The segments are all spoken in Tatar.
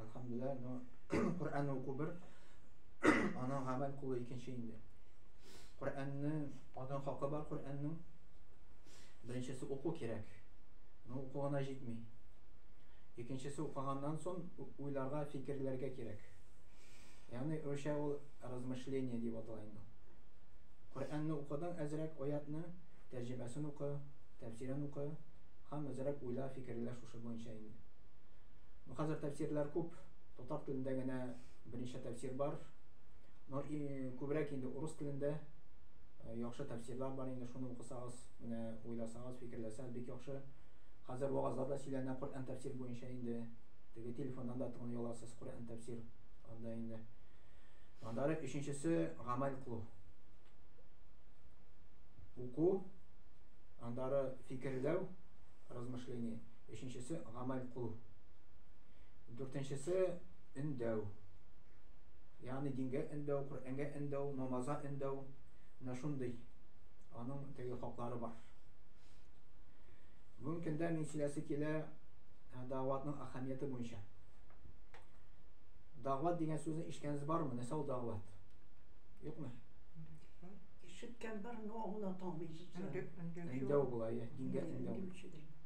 Әлхәмдүлилла, но Коръәнне уку бер, аның гамәл кылу икенче инде. Коръәнне алдан хакы бар Коръәннең. Беренчесе уку кирәк. Но уку гына җитми. Икенчесе укыганнан соң уйларга, фикерләргә кирәк. Ягъни русча ул размышление дип атала инде. Коръәнне укыдың әзрәк аятны, тәрҗемәсен укы, тәфсирен укы, һәм әзрәк уйла, фикерлә шушы буенча инде. Ну, хәзер тәфсирләр күп, татар телендә генә берничә тәфсир бар. Но күбрәк инде урыс телендә э, яхшы тәфсирлар бар инде, шуны укысагыз, менә уйласагыз, фикерләсәгез бик яхшы. Хәзер вагазлар да сөйләнә Коръән тәфсир буенча инде. Теге телефоннан да тыңлый аласыз Коръән тәфсир анда инде. Андары өченчесе гамәл кылу. Уку, андары фикерләү, размышление. өченчесе гамәл кылу, дүртенчесе өндәү, ягъни дингә өндәү, Коръәнгә өндәү, намазга өндәү, менә шундый аның теге хаклары бар. Бүгенге көндә мин сөйләсе килә дәгъватның әһәмияте буенча. Дәгъват дигән сүзне ишеткәнегез бармы? Нәрсә ул дәгъват? Юкмы? Ишеткән бар, но аңлата алмыйсыз. Өндәү була, дингә өндәү.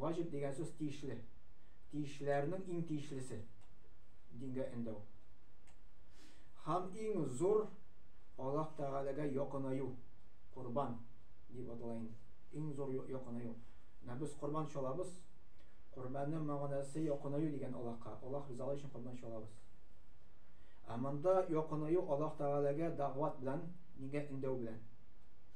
Ваҗиб дигән сүз тиешле. Тиешлеләрнең иң тиешлесе. Дингә эндәү. Һәм иң зур Аллаһ Тәгаләгә якынаю. Корбан дип атала инде. Иң зур якынаю. Менә без корбан чалабыз. Корбанның мәгънәсе якынаю дигән Аллаһка. Аллаһ ризалыгы өчен корбан чалабыз. Ә монда якынаю Аллаһ Тәгаләгә дәгъват белән, дингә эндәү белән.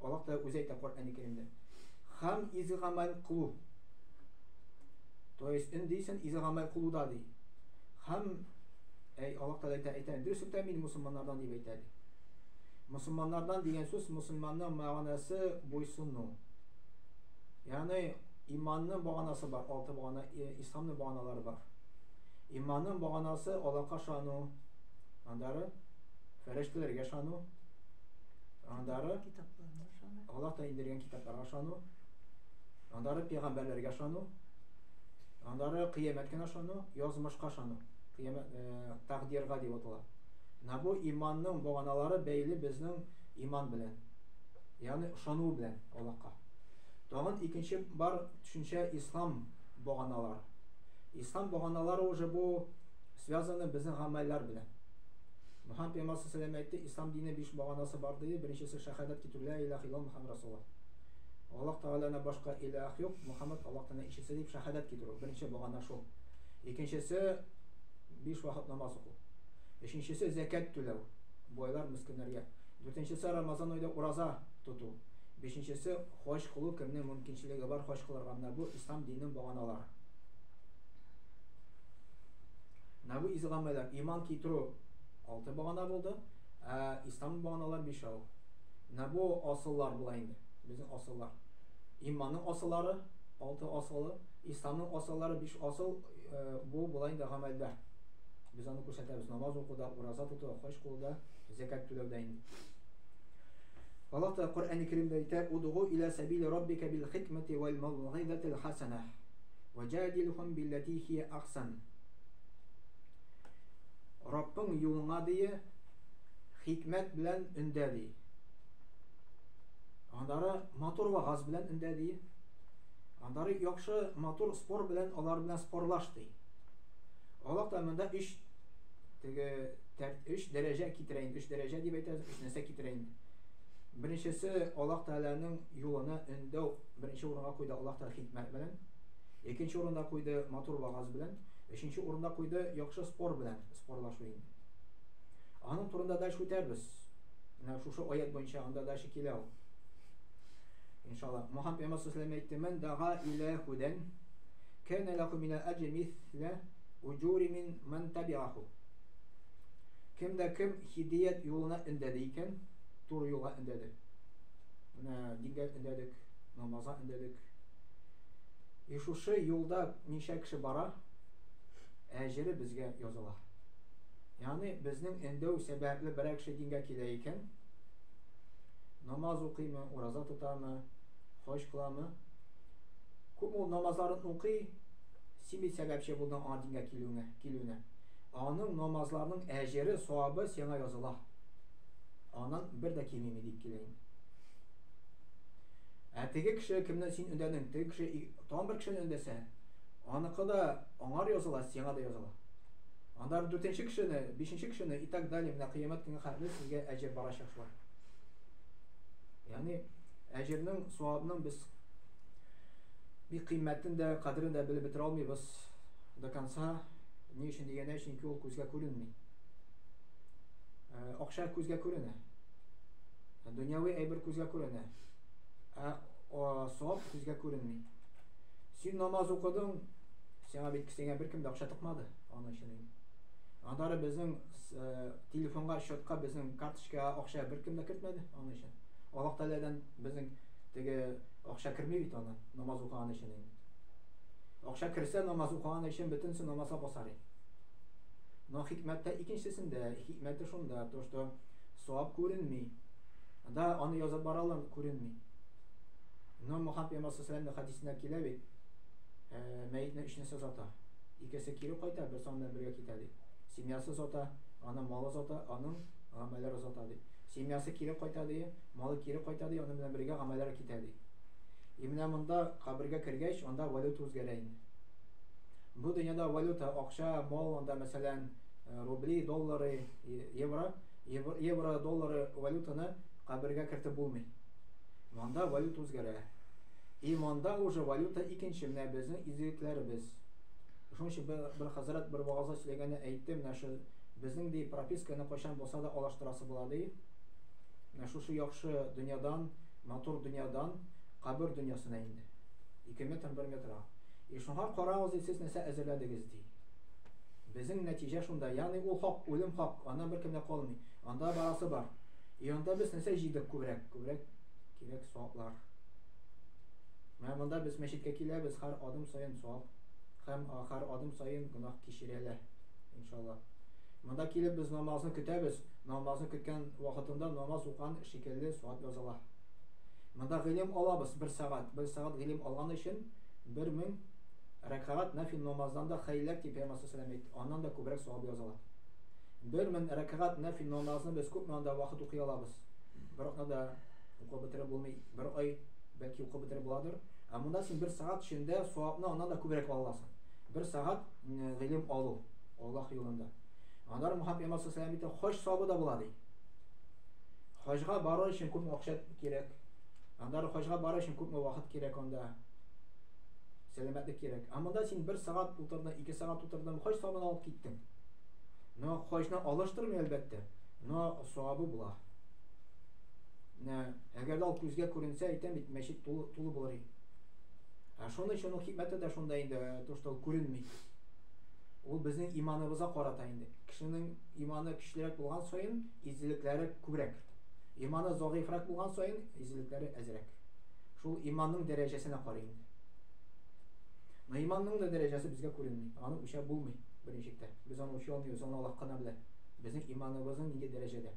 Аллаһ Тәгалә үзе әйтә Коръәни Кәримдә. Хам изге гамәл кылу. То есть ин дисен изге гамәл кылуда ди. Хам әй Аллаһ Тәгалә әйтә, әйтә, дөрес үтә мин мусулманнардан дип әйтә ди. Мусулманнардан дигән сүз мусулманның мәгънәсе буйсыну. Ягъни иманның баганасы бар, алты багана, исламның баганалары бар. Иманның баганасы Аллаһка ышану, андары фәрештәләргә ышану, Андары Аллаһ та индергән китапларга ышану, андары пәйгамбәрләргә ышану, андары кыямәткә ышану, язмышка ышану. Кыямәт э, тәкъдиргә дип атала. Менә бу иманның баганалары бәйле безнең иман белән. Ягъни ышану белән Аллаһка. Тагын икенче бар төшенчә ислам баганалары. Ислам баганалары уже бу связаны безнең гамәлләр белән. Мөхәммәд пәйгамбәр саллаллаһу галәйһи ва сәлләм әйтте, Ислам дине биш баганасы бар, диде, беренчесе шәһадәт китерү, Лә илаһә илләллаһ Мөхәммәд расулуллаһ. Аллаһ Тәгаләннән башка илаһ юк, Мөхәммәд Аллаһ Тәгаләнең илчесе дип шәһадәт китерү, беренче багана шул. Икенчесе, биш вакыт намаз уку. Өченчесе, зәкят түләү, байлар мескеннәргә. Дүртенчесе, Рамазан аенда ураза тоту. Бишенчесе, хаҗ кылу, кемнең мөмкинчелеге бар хаҗ кылырга, менә бу Ислам диненең баганалары. Нәбү изгамәләр, иман китерү алты багана булды, ә ислам баганалар бишәү. Нәбү асыллар була инде, безнең асыллар. Иманның асыллары алты асылы, исламның асыллары биш асыл, бу була инде гамәлдә. Без аны күрсәтәбез намаз укуда, ураза тотуда, хаҗ кылуда, зәкәт түләүдә инде. Аллаһ Тәгалә Коръән-и Кәримдә әйтә: "Удгу илә сәбили раббика бил хикмәти вәл маугыйзатил хасана". Вәҗадилһум билләти хия ахсан. Раббың юлыңа дие хикмәт белән өндә ди. Аннары матур вагаз белән өндә ди. Аннары яхшы матур спор белән алар белән спорлаш ди. Аллаһ та монда 3 теге 3 дәрәҗә китерә инде, 3 дәрәҗә дип әйтәбез, 3 нәрсә китерә инде. Беренчесе Аллаһ Тәгаләнең юлына өндәү беренче урынга куйды Аллаһ Тәгалә хикмәт белән. Икенче урында куйды матур вагаз белән, өченче урында куйды яхшы спор белән, спорлашу инде. Аның турында дальше үтәрбез. Менә шушы аят буенча анда дальше килә ул. Иншалла. Мухаммад пәйгамбәр саллаллаху әйтте: "Мен дага илә худен, кәнә лаху мин аҗмис ла уҗури мин ман табиаху". Кем дә кем хидият юлына өндәде икән, туры юлга өндәде. Менә дингә өндәдек, намазга өндәдек. И шушы юлда ничә кеше бара, әҗере безгә языла. Яни безнең өндәү сәбәпле берәр кеше дингә килә икән, намаз укыймы, ураза тотамы, хаҗ кыламы? Күп ул намазларын укый, син бит сәбәпче булдың аңа дингә килүеңә. килүенә. Аның намазларының әҗере, савабы сиңа языла. Аннан бер дә кимеми дип килә инде. Ә теге кеше кемне син өндәдең? Теге кеше тагын бер кешене өндәсә, аныкы да аңар языла, сиңа да языла. Анда дүртенче кешене, бишенче кешене и так далее, менә кыямәт көнгә хәтле сезгә әҗер барачак шулай. Ягъни әҗернең, савабның без бик кыйммәтен дә, кадерен дә белеп бетерә алмыйбыз. до конца ни өчен дигәндә чөнки ул күзгә күренми э, акча күзгә күренә дөньяви әйбер күзгә күренә ә савап күзгә күренми син намаз укыдың сиңа бит сиңа беркем дә акча тыкмады аның өчен аннары безнең э, телефонга счетка безнең карточкага акча беркем дә кертмәде аның өчен аллаһ тәгаләдән безнең теге акча керми бит аны намаз укыган өчен Акча керсә, намаз укыган өчен бөтенесе намазга басар иде. Но хикмәт тә икенчесендә, хикмәте шунда, то что савап күренми. Анда аны язып баралар, күренми. Но Мухаммед пәйгамбәр саллаллаху хадисендә килә бит, э, мәетне өч нәрсә зата. Икесе кире кайта, бер саннан бергә китә ди. Семьясы зата, аны малы зата, аның гамәлләре зата ди. Семьясы кире кайта ди, малы кире кайта ди, аның белән бергә гамәлләре китә ди. И менә монда кабергә кергәч, анда валюта үзгәрә инде. Бу дөньяда валюта, акча, мол, анда мәсәлән, рубли, доллары, евро, евро, доллары валютаны кабергә кертеп булмый. Монда валюта үзгәрә. И монда уже валюта икенче, менә безнең изгелекләребез. Шуның өчен бер, бер хәзрәт бер вагазда сөйләгәндә әйтте, менә шу безнең ди прописканы кайчан булса да алаштырасы була ди. Менә шушы яхшы дөньядан матур дөньядан кабер дөньясына инде. Ике метр бер метра. И шуңа карагыз ди сез нәрсә әзерләдегез ди. Безнең нәтиҗә шунда. Ягъни ул хак, үлем хак, аннан беркем дә калмый. Анда барасы бар. И анда без нәрсә җыйдык күбрәк? Күбрәк кирәк саваплар. Менә монда без мәчеткә киләбез, һәр адым саен савап һәм һәр адым саен гөнаһ кичерәләр. Иншалла. Монда килеп без намазны көтәбез. Намазны көткән вакытында намаз укыган Шикелле сорап языла. Монда гыйлем алабыз бер сәгать. Бер сәгать гыйлем алган өчен бер мең рәкәгать нәфил намаздан да хәйләк дип Пәйгамбәр саллаллаһу әйтте. Аннан да күбрәк савап языла. Бер мең рәкәгать нәфил намазны без күпме анда вакыт укый алабыз? Бер атнада укып бетереп булмый. Бер ай бәлки укып бетереп буладыр. Ә монда син бер сәгать эчендә савапны аннан да күбрәк ала аласың. Бер сәгать гыйлем алу Аллаһ юлында. Аннары Мухаммед Пәйгамбәр саллаллаһу әйтә, хош савабы да була ди. Хаҗга бару өчен күпме акча кирәк? Аннары хаҗга бару өчен күпме вакыт кирәк анда? Сәламәтлек кирәк. Ә монда син бер сәгать утырдың, ике сәгать утырдың, хаҗ сабын алып киттең. Но хаҗны алыштырмый, әлбәттә, но савабы була. Менә әгәр дә күзгә күренсә, әйтәм бит, мәчет тулы, тулы булыр иде. Ә шуның өчен ул хикмәте дә шунда инде, то, что ул күренми. Ул безнең иманыбызга карата инде. Кешенең иманы көчлерәк булган саен, Иззелекләре күбрәк. Иманы загыйфрак булган саен, иззелекләре әзрәк. Шул иманның дәрәҗәсенә карый инде. Но иманның да дәрәҗәсе безгә күренми. Аны үлчәп булмый, беренче чиктә. Без аны үлчәй алмыйбыз, аны Аллаһ кына белә. Безнең иманыбызның нинди дәрәҗәдә.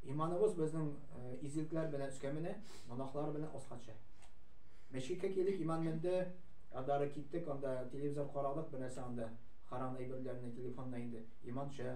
Иманыбыз безнең э, иззелекләр белән өскә менә, гөнаһлар белән аска төшә. Мәчеткә килдек, иман менде, адары киттек, анда телевизор карадык, бернәрсә анда харам әйберләрне, телефонны инде. Иман төшә.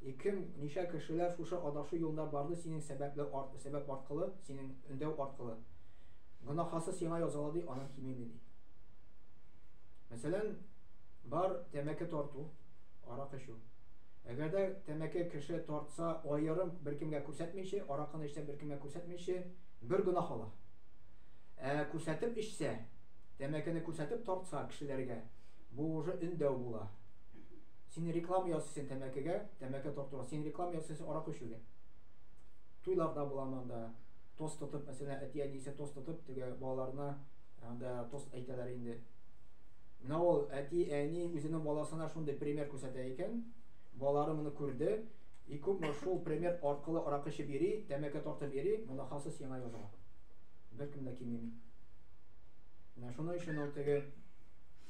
И кем, ничә кешеләр шушы адашу юлында барды синең сәбәпләү арт, сәбәп аркылы, синең өндәү аркылы? Гөнаһасы сиңа язалады, аннан кимеми, ди. Мәсәлән, бар тәмәке тарту, арак эчү. Әгәр дә тәмәке кеше тартса, аерым беркемгә күрсәтмиче, аракыны эчсә беркемгә күрсәтмиче, бер гөнаһ ала. Ә күрсәтеп эчсә, тәмәкене күрсәтеп тартса кешеләргә, бу уже өндәү була. Син реклама ясыйсың тәмәкегә, тәмәке тартуга. Син реклама ясыйсың аракы эчүгә. Туйларда булам анда. Тост тотып, мәсәлән, әти әнисе тост тотып, теге балаларына анда тост әйтәләр инде. Менә ул әти әни үзенең баласына шундый пример күрсәтә икән, балалары моны күрде, и күпме шул пример аркылы аракы эчеп йөри, тәмәке тартып йөри, моны хасыз сиңа языла. Беркем дә кимеми. Менә шуның өчен ул теге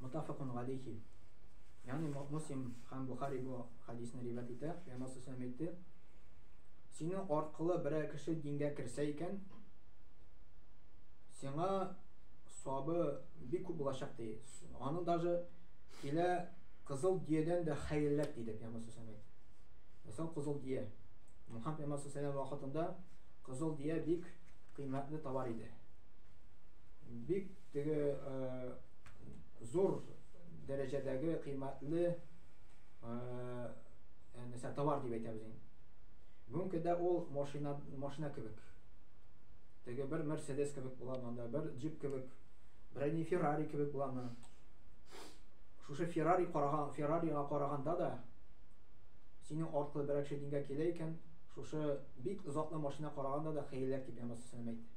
Мутафакун галейхи. Ягъни Муслим һәм Бухари бу хадисны риваять итә. Пәйгамбәр саллаллаху әйтте: "Синең аркылы берәр кеше дингә керсә икән, сиңа сабы бик күп булачак" ди. Аның даже килә кызыл диядән дә хәерлерәк диде Пәйгамбәр саллаллаху әйтте. Мәсәл кызыл дия. Мухаммад Пәйгамбәр саллаллаху вакытында кызыл дия бик кыйммәтле товар иде. Бик теге зур дәрәҗәдәге кыйммәтле мәсәлән товар дип әйтәбез инде бүгенге көндә ул машина машина кебек теге бер мерседес кебек була монда бер джип кебек берәр не феррари кебек була монда шушы феррари караган феррарига караганда да синең артлы берәр кеше дингә килә икән шушы бик затлы машина караганда да хәйләк дип янасына әйтте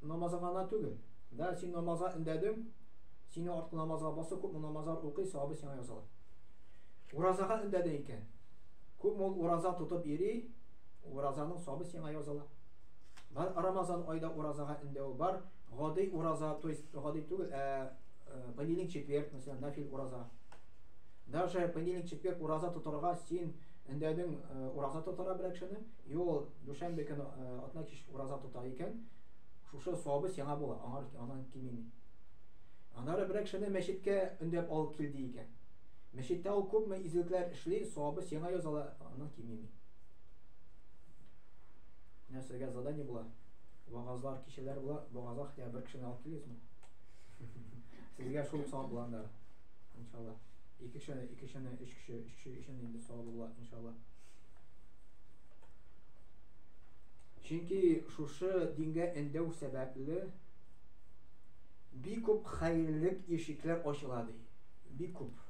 Намазың гана түгел. Да син намазга өндәдең, сине арткы намазга басу, күпме намазлар укый, савабы сиңа языла. Уразага өндәдең икән. Күпме ул ураза тотып йөри, уразаның савабы сиңа языла. Бар Рамазан айда уразага өндәү бар. Гади ураза, то есть гади түгел, ә понедельник, четверг, мәсәлән, нафил ураза. Даже понедельник, четверг ураза тотарга син өндәдең ураза тотара берәкшене, и ул дүшәмбе көне атна кич ураза Торган икән, шушы савабыз сиңа була, аңар аннан кимеми. Аннары берәр кешене мәчеткә өндәп алып кил ди икән. Мәчеттә ул күпме изгелекләр эшли, савабы сиңа языла, аннан кимеми. Менә сезгә задание була. Вагазлар, кичәләр була, вагазга хотя бер кешене алып килегезме? Сезгә шул савап була анда. Иншалла. Ике кешене, ике кешене, өч кеше, өч кеше өчен инде савабы була, иншалла. Чөнки шушы дингә өндәү сәбәпле, бик күп хәерлек ишекләр ачыла, ди. Бик күп.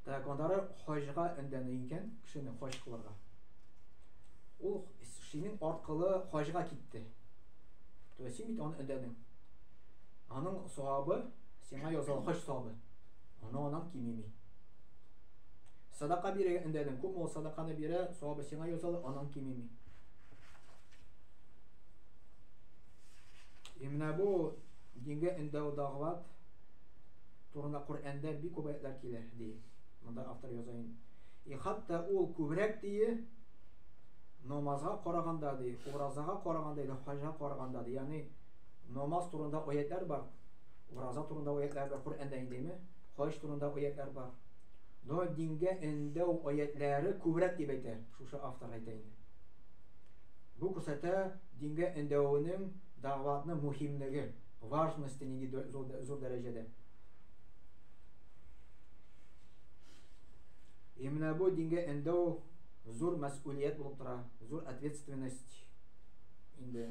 Так, аннары хаҗга өндәнә икән, кешене хаҗ кылырга. Ул синең аркылы хаҗга китте. То есть син бит аны өндәдең. Аның савабы сиңа язал хаҗ савабы. Аны анан кимеми. Садака бирә эндәдең, күпме ул садаканы бирә, савабы сиңа язал, анан кимеми. И менә бу дингә эндәү дагъват турында Коръәндә бик күп аятлар килә, ди. Монда автор яза инде. И хатта ул күбрәк дие, намазга караганда ди, уразага караганда ди, хаҗга караганда ди. Ягъни Намаз турында аятьләр бар. Ураза турында аятьләр бар. Коръәндә индеме? Хаҗ турында аятьләр бар. Но дингә эндәү аятьләре күбрәк дип әйтә шушы автор әйтә инде. Бу күрсәтә дингә эндәвенең дәгъватны мөһимлеге, важности нинди зур дәрәҗәдә. И менә бу дингә эндәү зур мәсъулият булып тора, зур ответственность инде.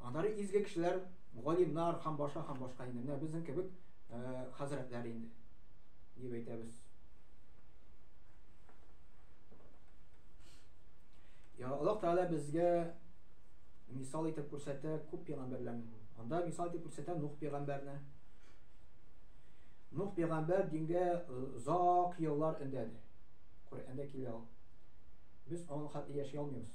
Аннары изге кешеләр, галимнар һәм башка һәм башка инде. Менә безнең кебек хәзрәтләр инде дип әйтәбез. Я Аллаһ Тәгалә безгә мисал итеп күрсәтә күп пәйгамбәрләрне. Анда мисал итеп күрсәтә Нух пәйгамбәрне. Нух пәйгамбәр дингә озак еллар өндәде. Коръәндә килә ул. Без аның хәтле яши алмыйбыз.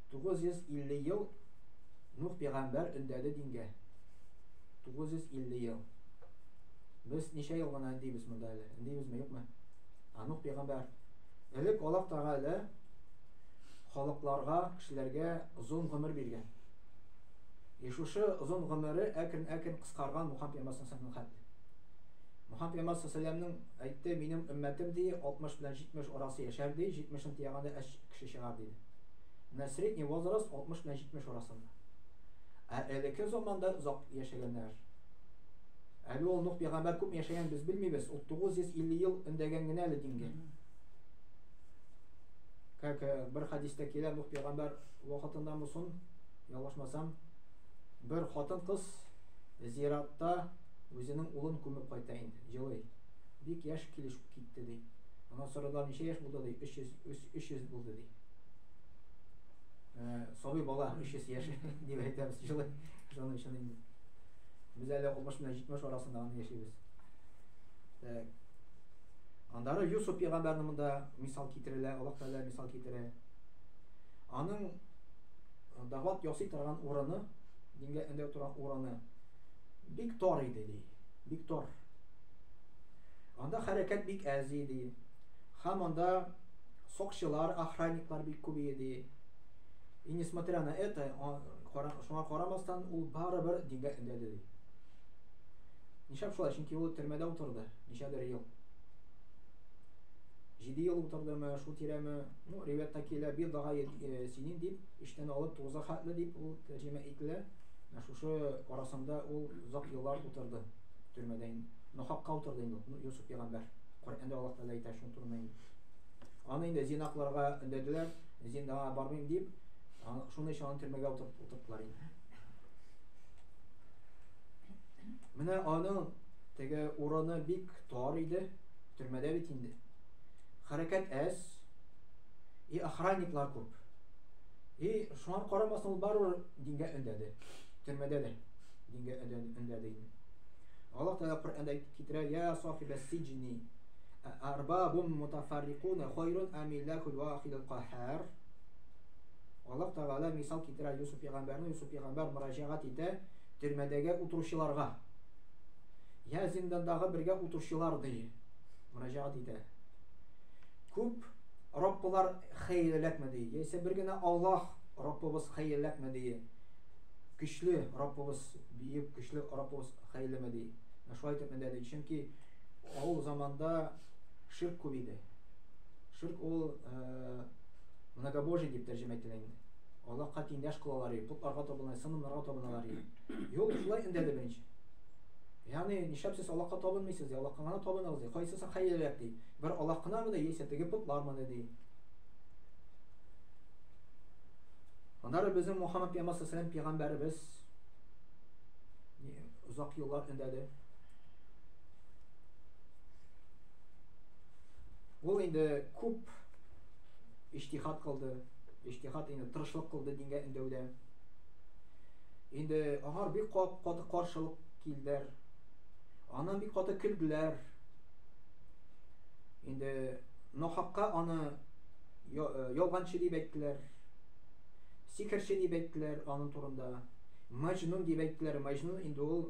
950 ел Нух пигамбәр өндәде дингә. 950 ел. Без ничә ел гына өндибез монда әле? Өндибезме, юкмы? А Нух пигамбәр. Элек Аллаһ Тәгалә халыкларга, кешеләргә озын гомер биргән. И шушы озын гомере әкрен-әкрен кыскарган Мухаммед пигамбәр саллаллаху алейһи Мухаммед пигамбәр саллаллаху әйтте, минем өммәтем ди 60 белән 70 арасы яшәр ди, 70-ен тиягәндә әч кеше чыгар диде. Менә средний возраст 60 белән 70 арасында. Ә элекке заманда озак яшәгәннәр. Әле ул Нух пәйгамбәр күпме яшәгәнен без белмибез. Ул 950 ел өндәгән генә әле дингә. Как э, бер хәдистә килә, Нух пәйгамбәр вакытында мусын, ялгышмасам, бер хатын кыз зиратта үзенең улын күмеп кайта инде, җылый. Бик яшь килеш китте ди. Аннан сорыйлар, ничә яшь булды ди? 300 300 булды ди. Э, сабый бала 300 яшь дип әйтәбез җылы җылы өчен инде без әле 60 белән 70 арасында гына яшибез так аннары Юсуп пәйгамбәрне монда мисал китерелә Аллаһ Тәгалә мисал китерә аның э, дәгъват ясый торган урыны дингә өндәү торган урыны бик тар иде ди бик тар анда хәрәкәт бик әз иде һәм анда Сокчылар, охранниклар бик күп иде. И несмотря на это, шуңа карамастан, ул барыбер дингә өндәде ди. Нишләп шулай? Чөнки ул төрмәдә утырды, ничәдер ел. Җиде ел утырдымы, шул тирәме, ну, ривәттә килә, бир дага э, синин дип, иштән алып тугызга хәтле дип ул тәрҗемә ителә. Ә шушы арасында ул озак еллар утырды төрмәдә. Нохакка утырды инде, ну, Юсуф пәйгамбәр. Коръәндә Аллаһ Тәгалә әйтә шул. Тормый. Аны инде зинакларга өндәделәр, зиндага бармыйм дип, шуның өчен аны төрмәгә утырттылар инде. Менә аның теге урыны бик тар иде, төрмәдә бит инде. Хәрәкәт әз, и охранниклар күп. И шуңа карамастан ул барыбер дингә өндәде. Төрмәдә дә дингә өндәде инде. Аллаһ Тәгалә Коръәндә китерә, "Я сахибәс сиҗни" Арбабун мутафаррикуна хойрун амиллакул вахидул кахар. Аллаһ Тәгалә мисал китерә Юсуф пәйгамбәрне, Юсуф пәйгамбәр мөрәҗәгать итә төрмәдәге утыручыларга. Я зиндандагы бергә утыручылар ди. Мөрәҗәгать итә. Күп Раббылар хәерлерәкме ди. Яисә бер генә Аллаһ Раббыбыз хәерлерәкме ди. Көчле Раббыбыз, биек көчле Раббыбыз хәерлеме ди. Шулай итеп менә ди. Чөнки Ул заманда ширк күп иде. Ширк ул э, многобожие дип тәрҗемә ителә инде. Аллаһка тиңдәш кылалар иде, путларга табыналар, сынымнарга табыналар иде. Юк, шулай өндәде беренче. Ягъни, нишләп сез Аллаһка табынмыйсыз? Ди, Аллаһка гына табыныгыз ди. Кайсысы хәерлерәк ди? Бер Аллаһ гына мыни, яисә теге путлар мыни ди. Аннары безнең Мухаммад пәйгамбәр саллаллаһу алейһи ва саллям пәйгамбәребез озак еллар өндәде. Ул инде күп иҗтихад кылды, иҗтихад инде тырышлык кылды дингә өндәүдә. Инде аңар бик каты каршылык килдер. Аннан бик каты көлделәр. Инде нахакка аны э, ялганчы дип әйттеләр. Сикерче дип әйттеләр аның турында. Мәҗнун дип әйттеләр. Мәҗнун инде ул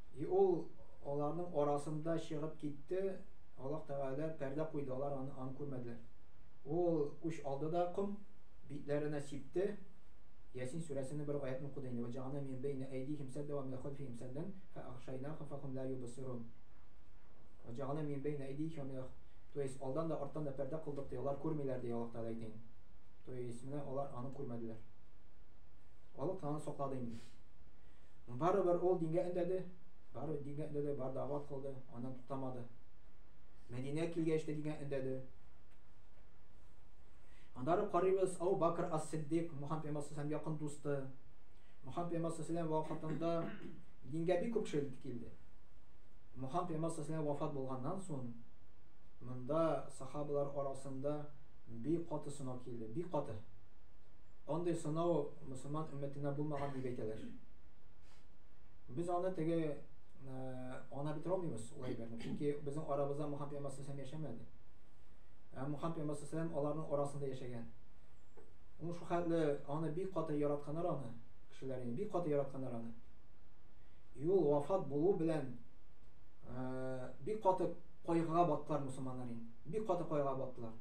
И ул аларның арасында чыгып китте, Аллаһ Тәгалә пәрдә куйды, алар аны аны күрмәделәр. Ул үч алды да ком битләренә сипте. Ясин сүрәсенең бер аятен укыды инде. Вә җәгәлнә мин бәйнә әйдихим сәддә вә мин халфихим сәддән фә ахшайнахум фә хум ла юбсирун. Вә җәгәлнә мин бәйнә әйдихим вә мин То есть алдан да арттан да пәрдә кылдык ди, алар күрмиләр ди Аллаһ Тәгалә әйтә инде. То есть менә алар аны күрмәделәр. Аллаһ Тәгалә саклады инде. Барыбер ул дингә өндәде, барыбер дингә өндәде, бар дәгъват кылды, аннан туктамады. Мәдинә килгәч тә дингә өндәде. Аннары карыйбыз, Ау Бакр ас-Сиддик, Мухаммед пәйгамбәр һәм якын дусты. Мухаммед пәйгамбәр сәлам вакытында дингә бик күп кеше килде. Мухаммед пәйгамбәр сәлам вафат булганнан соң монда сахабалар арасында бик каты сынау килде, бик каты. Андый сынау мөселман өммәтенә булмаган дип әйтәләр. Без аны теге ана бит ромимыз ул әйберне. Чөнки безнең арабызда Мухаммад пәйгамбәр сәлләм яшәмәде. Ә Мухаммад пәйгамбәр сәлләм аларның арасында яшәгән. Ул шул хәтле аны бик каты яратканнар аны, кешеләрне бик каты яратканнар аны. И ул вафат булу белән бик каты кайгыга баттылар мусулманнар инде. Бик каты кайгыга баттылар.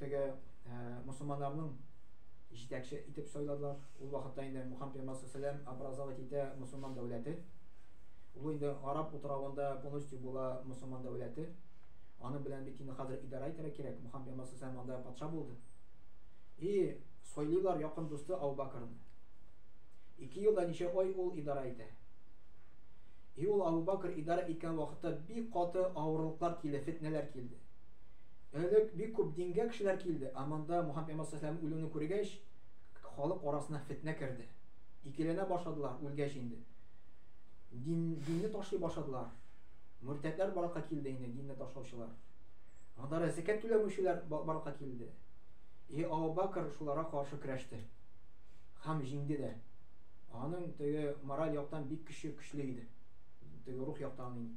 теге мусулманнарның җитәкче итеп сайладылар. Ул вакытта инде Мухаммад пәйгамбәр саллаллаһу образовать итә мусулман дәүләте. Ул инде араб утравында полностью була мусулман дәүләте. Аның белән бит инде хәзер идарә итәргә кирәк. Мухаммад пәйгамбәр саллаллаһу анда патша булды. И сойлыйлар якын дусты Абу Бакрны. Ике елда ничә ай ул идарә итә. И ул Абу Бакр идарә иткән вакытта бик каты авырлыклар килде, фетнәләр килде. Элек бик күп дингә кешеләр килде, ә монда Мухаммәд пәйгамбәр саллаллаһу галәйһи ва сәлләмнең үлүен күргәч, халык арасына фетнә керде. Икеләнә башладылар, үлгәч инде. Дин, динне ташлый башладылар. Мөртәтләр барлыкка килде инде, динне ташлаучылар. Анда да зәкят түләмүчеләр барлыкка килде. И Абу Бакр шуларга каршы көрәште. Хәм җиңде дә. Аның теге мораль яктан бик көче, көчле иде. Теге рух яктан инде.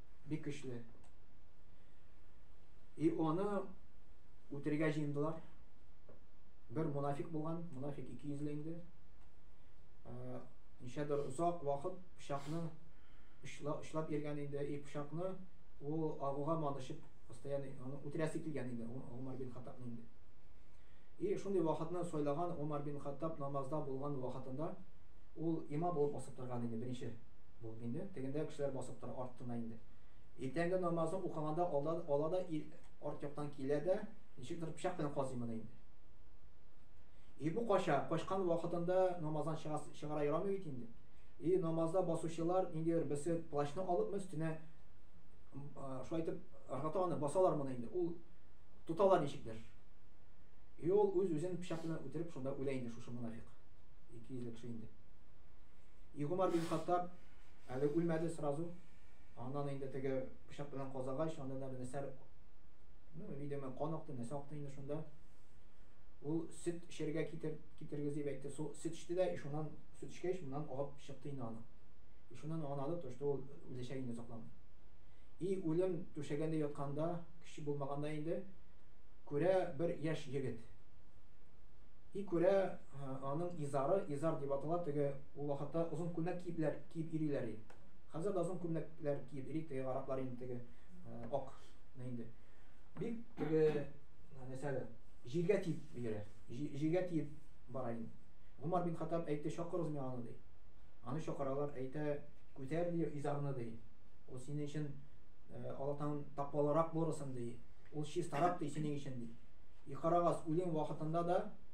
бик көчле. И оны үтерергә җыендылар. Бер мунафик булган, мунафик ике йөзле инде. Ничәдер озак вакыт пычакны очлап йөргән инде. И пычакны ул агуга манышып, постоянно аны үтерәсе килгән инде Умар бин Хаттабны инде. И шундый вакытны сайлаган Умар бин Хаттаб намазда булган вакытында ул имам булып басып торган инде беренче. Бу инде тегендә кешеләр басып тора артына инде. Иртәнге намазын укыганда алда ала да ир арт яктан килә дә, ничектер пычак белән казый моны инде. И бу кача, качкан вакытында намаздан чыга, чыгара ярамый бит инде. И намазда басучылар ниндидер берсе плащны алып өстенә шулай итеп ыргыта аны, басалар моны инде. Ул тоталар ничектер. И ул үз-үзен пычак белән үтереп шунда үлә инде шушы мунафик. Ике йөзле кеше инде. И Гомар бин Хаттаб әле үлмәде сразу. Аннан инде теге пычак белән казагач, анда да нәрсә ну, видимо, кан акты, нәрсә акты инде шунда. Ул сөт эчәргә китер, китергез дип әйтте. Су, сөт эчте дә, шуннан сөт эчкәч, моннан агып чыкты инде аны. И шуннан анады, то, что ул үләчәк инде сакланды. И үлем түшәгәндә ятканда, кеше булмаганда инде күрә бер яшь егет. И күрә Аның изары, изар дип атала, теге ул вакытта озын күлмәк киепләр, киеп ириләр и. Хәзер дә озын күлмәкләр киеп ири, теге араклар инде теге ак инде. Бик теге нәрсәле, җиргә тиеп бирә, җиргә тиеп бара инде. Гомар бин Хаттаб әйтте, чакырыгыз миңа аны, ди. Аны чакыралар, әйтә, күтәр, ди, изарны, ди. Ул синең өчен Аллаһтан тапмалырак булырсың, ди. Ул чистарак, ди, синең өчен, ди. И карагыз, үлем вакытында да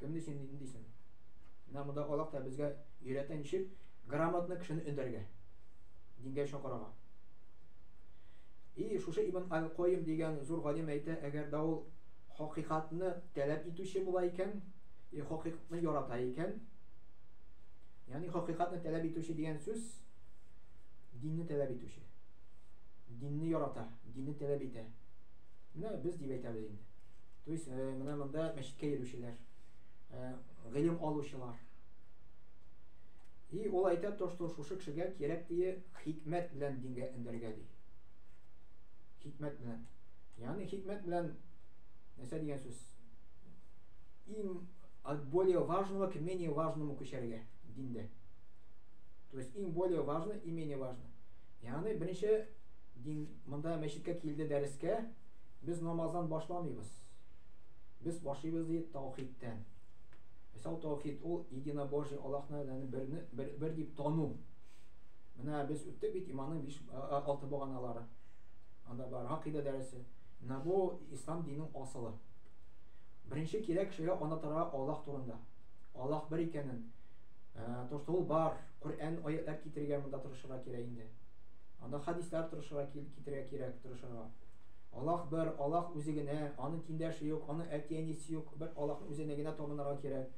Кем ди син ди дисен. Менә монда Аллаһ та безгә өйрәтә ничек грамотно кешене өндәргә. Дингә өчен карага. И шушы Ибн Аль-Койм дигән зур галим әйтә, әгәр дә ул хакыйкатьне таләп итүче була икән, и хакыйкатьне ярата икән, ягъни хакыйкатьне таләп итүче дигән сүз динне таләп итүче. Динне ярата, динне таләп итә. Менә без дип әйтәбез инде. То есть, э, менә монда мәчеткә йөрүчеләр, э, гыйлем алучылар. И ул әйтә то, что шушы кешегә кирәк дие хикмәт белән дингә эндергә ди. Хикмәт белән. Ягъни хикмәт белән нәрсә дигән сүз? Им от более важного к менее важному күчәргә диндә. То есть, им более важно и менее важно. Ягъни беренче дин Монда мәчеткә килде дәрескә, без намаздан башламыйбыз. Без башлыйбыз ди таухидтән. Мисал таухид ул единобожие Аллаһны янә берне бер, бер дип тану. Менә без үттек бит иманның 5 6 баганалары. Анда бар гакыйда дәресе. Менә бу ислам диненең асылы. Беренче кирәк кешегә анатара Аллаһ турында. Аллаһ бер икәнен, э, то, что ул бар, Коръән аятьләр китергә монда тырышырга кирәк инде. Анда хәдисләр тырышырга китерә кирәк, тырышырга. Аллаһ бер, Аллаһ үзе генә, аның тиңдәше юк, аның әти-әнисе юк, бер Аллаһны үзенә генә табынырга кирәк.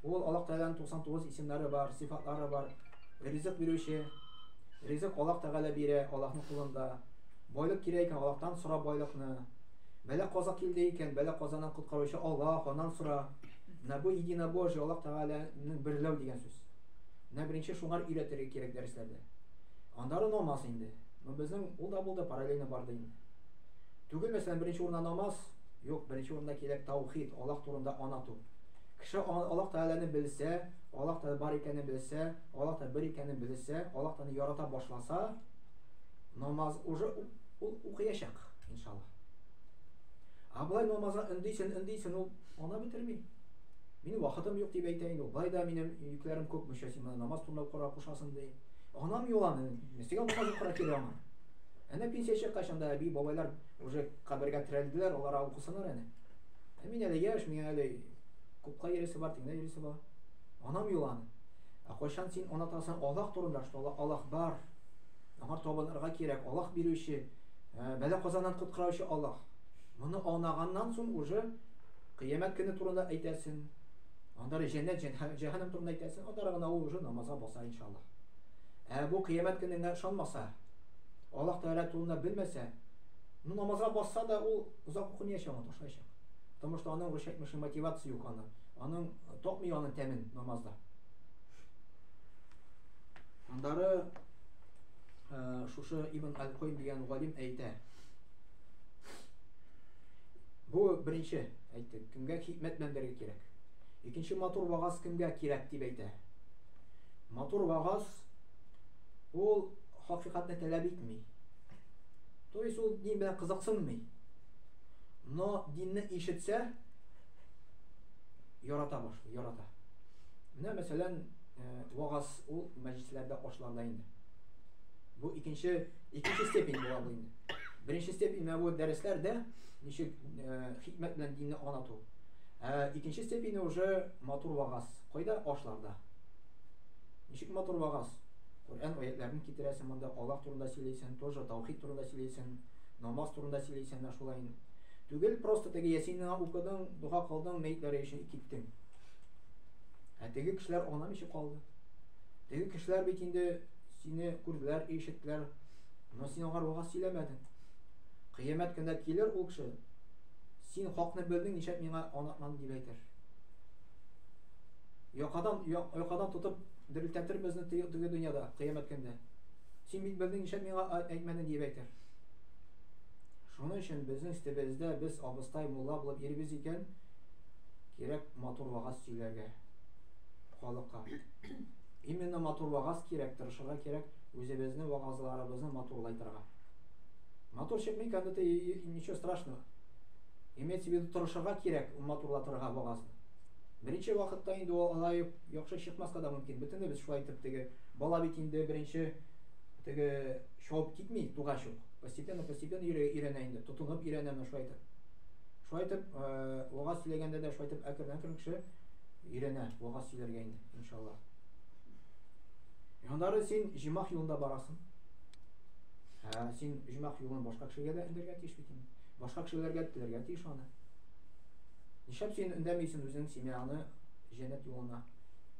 Ул Аллаһ Тәгаләнең 99 исемнәре бар, сыйфатлары бар. Ризык бирүче. Ризык Аллаһ Тәгалә бирә, Аллаһның кулында. Байлык кирәк икән, Аллаһтан сора байлыкны. Бәлә каза килде икән, бәлә казадан коткаручы Аллаһ, аннан сора. Менә бу единобожие, Аллаһ Тәгаләнең берләү дигән сүз. Менә беренче шуңар өйрәтергә кирәк дәресләрдә. Аннары намаз инде. Ну, безнең ул да булды, параллельно барды инде. Түгел, мәсәлән, беренче урында намаз, юк, беренче урында кирәк таухид, Аллаһ турында анату. Кеше Аллаһ Тәгаләне белсә, Аллаһ Тәгалә бар икәнен белсә, Аллаһ Тәгалә бер икәнен белсә, Аллаһ Тәгаләне ярата башласа, намаз уже ул укыячак, иншаллаһ. А болай намазга өндисен, өндисен, ул ана бетерми. Мин вакытым юк дип әйтә инде. Болай да минем йөкләрем күп, мөчәсимә намаз турында укырга кушасың ди. Анам юан, ничек аңа укырга кирәк аңа? Әнә пенсия чыккач анда әби, бабайлар уже кабергә терәлделәр, алар укысыннар әле. Ә мин әле яшь, миңа әле күпкә йөресе бар, тиңдә йөресе бар. Анам юан. Ә кайчан син анатасың Аллаһ турында, что Аллаһ бар. Аңа табынырга кирәк, Аллаһ бирүче, ә, бәла казаннан коткараучы Аллаһ. Моны анаганнан соң уже кыямәт көне турында әйтәсең. Анда әле җәннәт, җәнһә- җәһәннәм турында әйтәсең, аннары гына ул уже намазга баса, иншаллаһ. Ә бу кыямәт көненә ышанмаса, Аллаһ Тәгалә турында белмәсә, ну, намазга басса да, ул озак укымаячак, аны ташлаячак. Потому что аның, русча әйтмешли, мотивация юк аның. Аның э, тапмый аның тәмен намазда. Аннары э, шушы Ибн Аль-Куйм дигән галим әйтә. Бу беренче Әйтик, кемгә хикмәт мәңгере кирәк? Икенче матур вагаз кемгә кирәк дип әйтә? Матур вагаз ул хакыйкатьне таләп итми. То есть ул дин белән кызыксынмый. Но динне ишетсә, ярата башлый, ярата. Менә мәсәлән, э, вагаз ул мәҗлесләрдә ашларда инде. Бу икенче икенче степень була бу инде. Беренче степень менә бу дәресләрдә ничек э, хикмәт белән динне аңлату. Ә икенче степене уже матур вагаз. Кайда ашларда? Ничек матур вагаз? Коръән аятларын китерәсең монда, Аллаһ турында сөйләйсең, тоже таухид турында сөйләйсең, намаз турында сөйләйсең дә шулай. Түгел, просто теге ясинны укыдың, дога кылдың, мәйтләре өчен киттең. Ә теге кешеләр ана мичи калды. Теге кешеләр бит инде сине күрделәр, ишеттеләр, но син алар вагаз сөйләмәдең. Кыямәт көндә килер ул кеше, Син хакны белдең, нишләп миңа аңлатмадың, дип әйтер. Якадан, якадан тотып дерелтәтер безне теге дөньяда, кыямәт көндә. Син бит белдең, нишләп миңа әйтмәдең, дип әйтер. Шуның өчен безнең өстебездә без абыстай мулла булып йөрибез икән, кирәк матур вагаз сөйләргә халыкка. Именно матур вагаз кирәк, тырышырга кирәк, үзебезне вагазларыбызны матурлайтырга. Матурчык микән это и ничего страшного. Имеется в виду тырышырга кирәк, матурлатырга багазны. Беренче вакытта инде ул алай яхшы чыкмаска да мөмкин. Бөтенебез шулай итеп теге бала бит инде беренче теге шауып китми тугач ук. Постепенно постепенно өйрәнә инде, тотынып өйрәнә менә шулай итеп. Шулай итеп, э, вагаз сөйләгәндә дә шулай итеп әкрен әкрен кеше өйрәнә вагаз сөйләргә инде, иншалла. Яннары син җимах юлында барасың. Ә син оҗмах юлын башка кешегә дә өндәргә тиеш бит инде. Башка кешеләргә теләргә тиеш аны. Нишләп син өндәмисең үзең семьяны җәннәт юлына?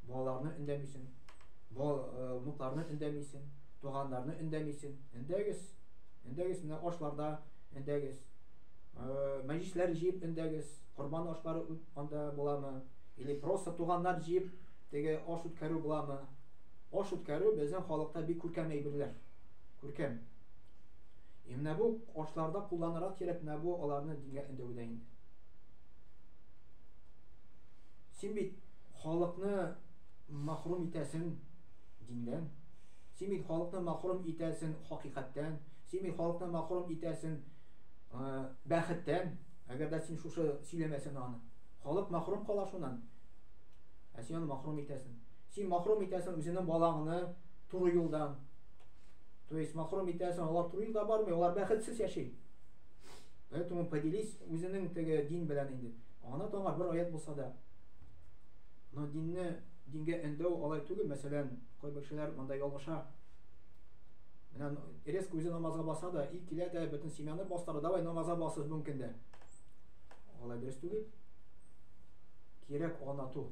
Балаларны өндәмисең. Бал э, внукларны өндәмисең, туганнарны өндәмисең. Өндәгез. Өндәгез менә ашларда өндәгез. Э, мәҗлесләр җыеп өндәгез. Корбан ашлары анда буламы? Или просто туганнар җыеп теге аш үткәрү буламы? Аш үткәрү безнең халыкта бик күркәм әйберләр. Күркәм. Һәм менә бу ашларда кулланырга кирәк, менә бу аларны дингә өндәвдә инде. Син бит халыкны мәхрүм итәсең диндән. Син бит халыкны мәхрүм итәсең хакыйкатьтән. Син бит халыкны мәхрүм итәсең бәхеттән. Әгәр дә син шушы сөйләмәсәң аны, халык мәхрүм кала шуннан. Ә син аны мәхрүм итәсең. Син махрум итәсең үзеңнең балаңны туры юлдан. То есть махрум итәсең, алар туры юлда бармый, алар бәхетсез яши. Поэтому поделись үзенең теге дин белән инде. Ана таңа бер аят булса да. Но динне дингә эндәү алай түгел, мәсәлән, кайбер кешеләр монда ялгыша. Менә эрес күзе намазга баса да, и килә дә бөтен семьяны бастыра, давай намазга басыз бүген көндә. Алай дөрес түгел. Кирәк анату.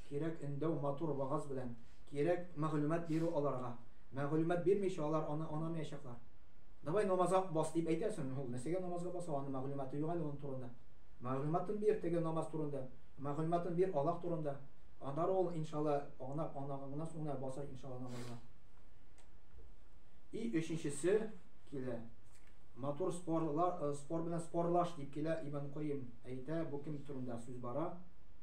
Кирәк өндәү, матур вагаз белән, кирәк мәгълүмат бирү аларга. Мәгълүмат бирмичә алар аны анамаячаклар. Давай намазга бас дип әйтәсең, ул нәрсәгә намазга баса, аның мәгълүматы юк әле аның турында. Мәгълүматын бир теге намаз турында, мәгълүматын бир Аллаһ турында. Аннары ул иншалла анап анаганнан соң гына басар иншалла намазга. И өченчесе килә. Матур спорлар, э, спор белән спорлаш дип килә Ибн Куйм әйтә, бу кем турында сүз бара?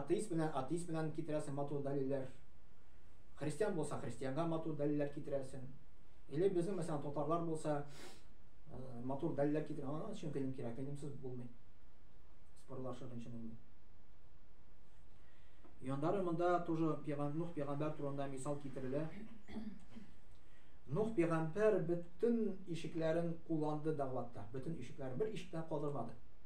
Атеист белән атеист белән китерәсең матур дәлилләр. Христиан булса, христианга матур дәлилләр китерәсең. Или безнең мәсәлән татарлар булса, э, матур дәлилләр китерә. Аның өчен гыйлем кирәк, гыйлемсез булмый. Спорлашыр өчен инде. Яндары монда тоже пигам Нух пигамбар турында мисал китерелә. Нух пигамбар бөтен ишекләрен кулланды дәгъватта. Бөтен ишекләр бер ишектә калдырмады.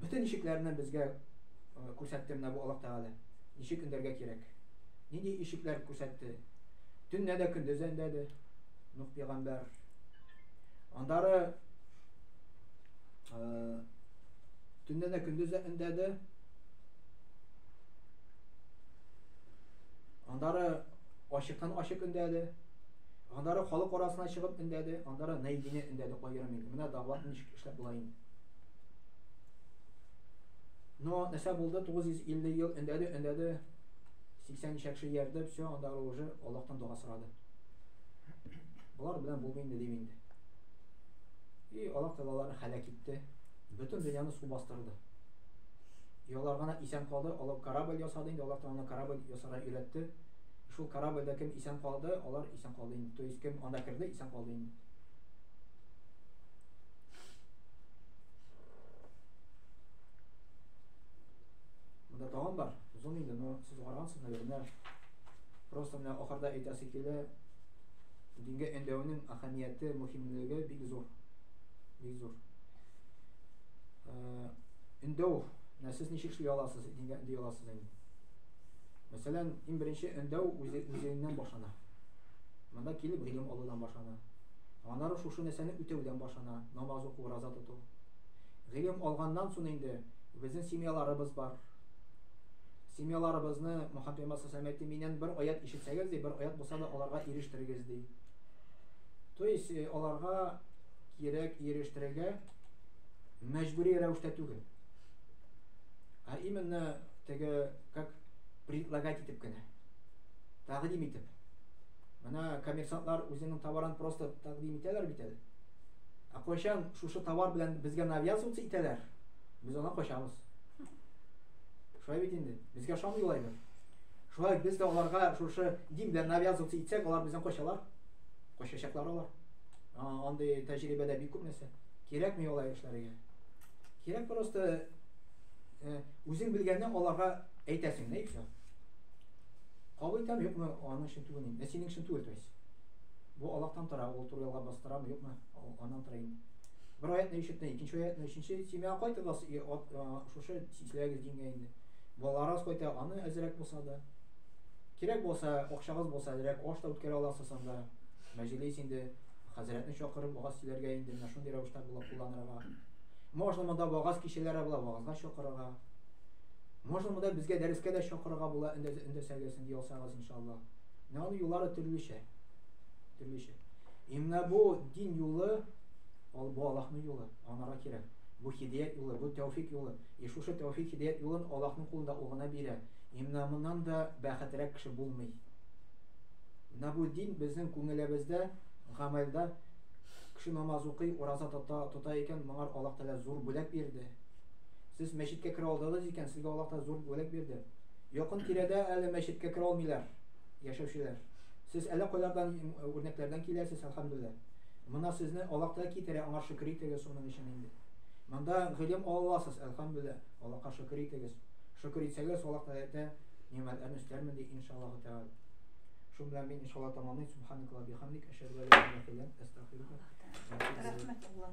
Бөтен ишекләрне безгә күрсәтте менә бу Аллаһ Тәгалә. Ничек өндәргә кирәк? Нинди ишекләр күрсәтте? Төнне дә көндез дә өндәде Нух пәйгамбәр. Андары төнне дә көндез дә өндәде. Андары ашыктан ашык өндәде. Андары халык арасына чыгып өндәде. Андары Найдине өндәде аерым инде. Менә дәгъват ничек эшләп була инде. Но нәрсә булды? 950 ел өндәде, өндәде, 80 ничә кеше иярде, все, анда уже Аллаһтан дога сорады. Болар белән булмый инде дим инде. И Аллаһ Тәгалә аларны һәлак итте. Бөтен дөньяны су бастырды. И алар гына исән калды, алар корабль ясады инде, Аллаһ Тәгалә корабль ясарга өйрәтте. Шул корабльдә кем исән калды, алар исән калды инде. То есть кем анда керде, исән калды инде. Монда тагын бар. Озын инде, но сез карагансыз, наверное. Просто менә ахырда әйтәсе килә. Дингә әндәүнең әһәмияте, мөһимлеге бик зур. Бик зур. Э, Эндәү, менә сез ничек эшли аласыз, дингә ди аласыз инде. Мәсәлән, иң беренче эндәү үзеңнән башлана. Монда килеп гыйлем алудан башлана. Анары шушы нәрсәне үтәүдән башлана, намаз уку, ураза тоту. Гыйлем алганнан сон инде безнең семьяларыбыз бар. Семьяларыбызны Мөхәммәд пәйгамбәр саллаллаһу әйтте, миннән бер аять ишетсәгез ди, бер аять булса да аларга ирештерегез ди. То есть э, аларга кирәк ирештерергә мәҗбүри рәвештә түгел. А именно теге как предлагать итеп кенә. Тәкъдим итеп. Менә коммерсантлар үзенең товарын просто тәкъдим итәләр бит әле. Ә кайчан шушы товар белән безгә навязываться итәләр, без аны качабыз. Шулай бит инде. Безгә шамыйлай бит. Шулай без дә аларга шушы дин белән навязываться итсәк, алар бездән качалар. Качачаклар алар. Андый тәҗрибәдә бик күп нәрсә. Кирәкми алай эшләргә. Кирәк просто э, үзең белгәнне аларга әйтәсең, нәйкә. Кабул итәме, юкмы, аның өчен түгел инде. Ә синең өчен түгел, то есть. Бу Аллаһтан тора, ул туры ялга бастырамы, юкмы, аннан тора инде. Бер аятны ишетте, икенче аятны, өченче семьяга кайтып бас, шушы сисләгез дингә инде. Балаларыгыз кайта, аны әзрәк булса да. Кирәк булса, акчагыз булса, әзрәк аш та үткәрә аласыз анда. Мәҗлис инде хәзрәтне чакырып, вагаз сөйләргә инде, менә шундый рәвештә була кулланырга. Можно монда вагаз кичәләре була, вагазга чакырырга. Можно монда безгә дәрескә дә чакырырга була, өндәсәгез, инде ясагыз иншалла. Менә аның юллары төрлечә. Төрлечә. И менә бу дин юлы, ал бу Аллаһның юлы, анара кирәк. Бу хидият юлы, бу тәүфик юлы. И шушы тәүфик хидият юлын Аллаһның кулында ул гына бирә. И менә моннан да бәхетрәк кеше булмый. Менә бу дин безнең күңелебездә, гамәлдә кеше намаз укый, ураза тота, тота икән, моңар Аллаһ Тәгалә зур бүләк бирде. Сез мәчеткә керә алдыгыз икән, сезгә Аллаһ та зур бүләк бирде. Якын тирәдә әле мәчеткә керә алмыйлар яшәүчеләр. Сез әллә кайлардан үрнәкләрдән киләсез, әлхәмдүлилләһ. Мына сезне Аллаһ та китерә, аңа шөкер итегез шуның өчен инде. Монда гыйлем ала аласыз, әлхәмдүлилләһ. Аллаһка шөкер итегез. Шөкер итсәгез, Аллаһ Тәгалә нимәтләрне өстәрмен ди, иншаллаһу тәгалә. Шуның белән мин иншаллаһ тамамлыйм. Субханакаллаһу бихамдик, әшһәдү ан ла илаһа илля анта, астагфирука. Рәхмәт, Аллаһ.